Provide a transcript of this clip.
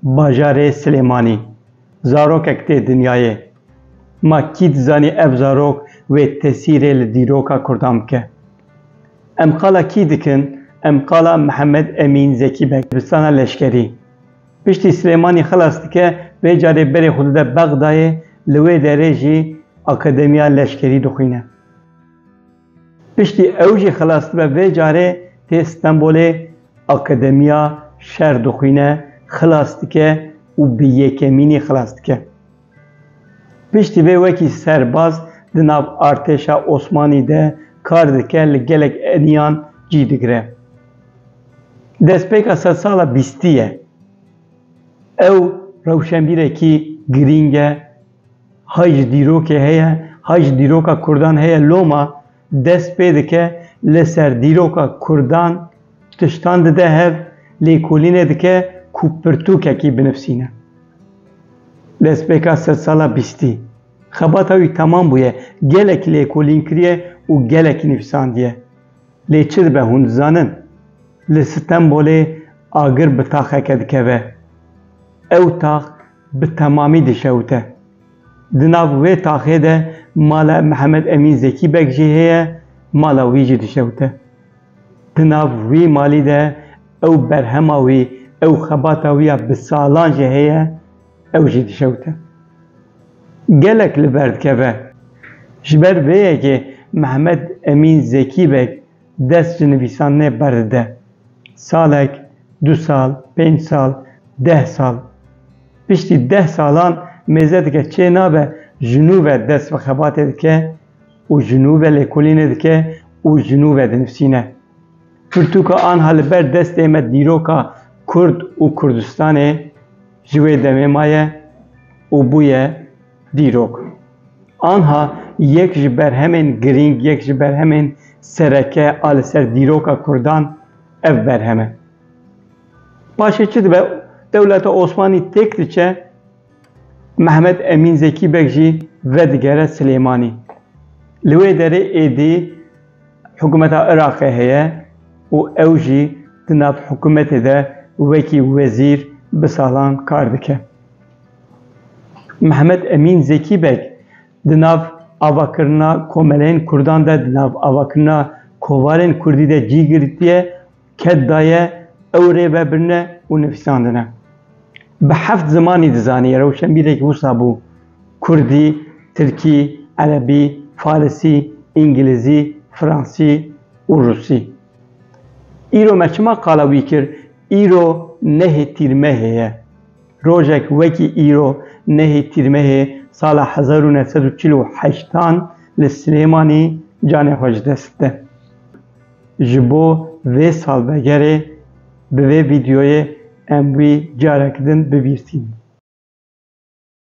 Bajarê Silêmanî zarokek tê dinyayê. Ma kî dizanî ev zarok wê tesîrê li dîroka Kurdan bike. Em qala kî dikin? Em qala Mihemed Emîn Zekî Beg, dibistana leşkerî. Piştî Silêmanî xilas dike, vê carê berê xwe dide Bexdayê, li wê derê jî Akademiya Leşkerî dixwîne. Piştî ew jî xilas dibe vê carê tê Stenbolê akademiya şer dixwîne, xilas dike û bi yekemînî xilas dike. Piştî vê wekî serbaz di nav artêşa Osmanî de kar dike li gelek eniyan cî digire. Destpêka sedsala bîstî ye. Ew rewşenbîrekî girîng e. Hay ji dîrokê heye, hay ji dîroka Kurdan heye loma dest pê dike li ser dîroka Kurdan tiştan dide hev, lêkolînê dike ku pirtûkekî binivîsîne. Destpêka sedsala bîstî, xebata wî temam bûye, gelekî lêkolîn kiriye û gelekî nivîsandiye. Lê çi dibe hûn dizanin? Li Stenbolê agir bi taxeke dikeve. Ew tax bi temamî dişewite. Di nav wê taxê de mala Mihemed Emîn Zekî Beg jî heye, mala wî jî dişewite. Di nav wî malî de ew berhema wî, ew xebata wî ya bi salan jî heye, ew jî dişewite. Gelek li ber dikeve. Ji ber vê yekê Mihemed Emîn Zekî Beg dest ji nivîsan nêberdide. Salek, du sal, pênc sal, deh sal. Piştî deh salan mêze dike çê nabe ji nû ve dest bi xebatê dike û ji nû ve lêkolînê dike û ji nû ve dinivîsîne. Pirtûka anha li ber destê me dîroka Kurd û Kurdistanê ji wê demê maye û bûye. Dîrok, anha yek ji berhemên girîng, yek ji berhemên sereke a li ser dîroka kurdan ev berhem e. Paşê çi dibe, dewleta Osmanî têk diçe, Mehmet Emîn Zekî Beg jî vedigere Silêmanî. Li wê derê êdî hikûmeta Iraqê heye û ew jî di nav hikûmetê de wekî wezîr bi salan kar dike. Mehmet Emîn Zekî Beg di nav avakirina komeleyên Kurdan de, di nav avakirina kovarên Kurdî de cî girtiye, ket daye ew rê vebirine û nivîsandine. Bi heft zimanî dizanî, rewşenbîrek wisa bû, Kurdî, Tirkî, Erebî, Farisî, Îngilizî, Fransî û Rûsî. Îro me çima qala wî kir, îro nehê tîrmehê ye. Rojek wekî îro nehê Tîrmehê sala hezar û neh sed û çil û heşt an li Silêmanî canê xwe ji dest de. Ji bo vê salvegerê bi vê vîdeoyê em wî carek din bibîrsînin.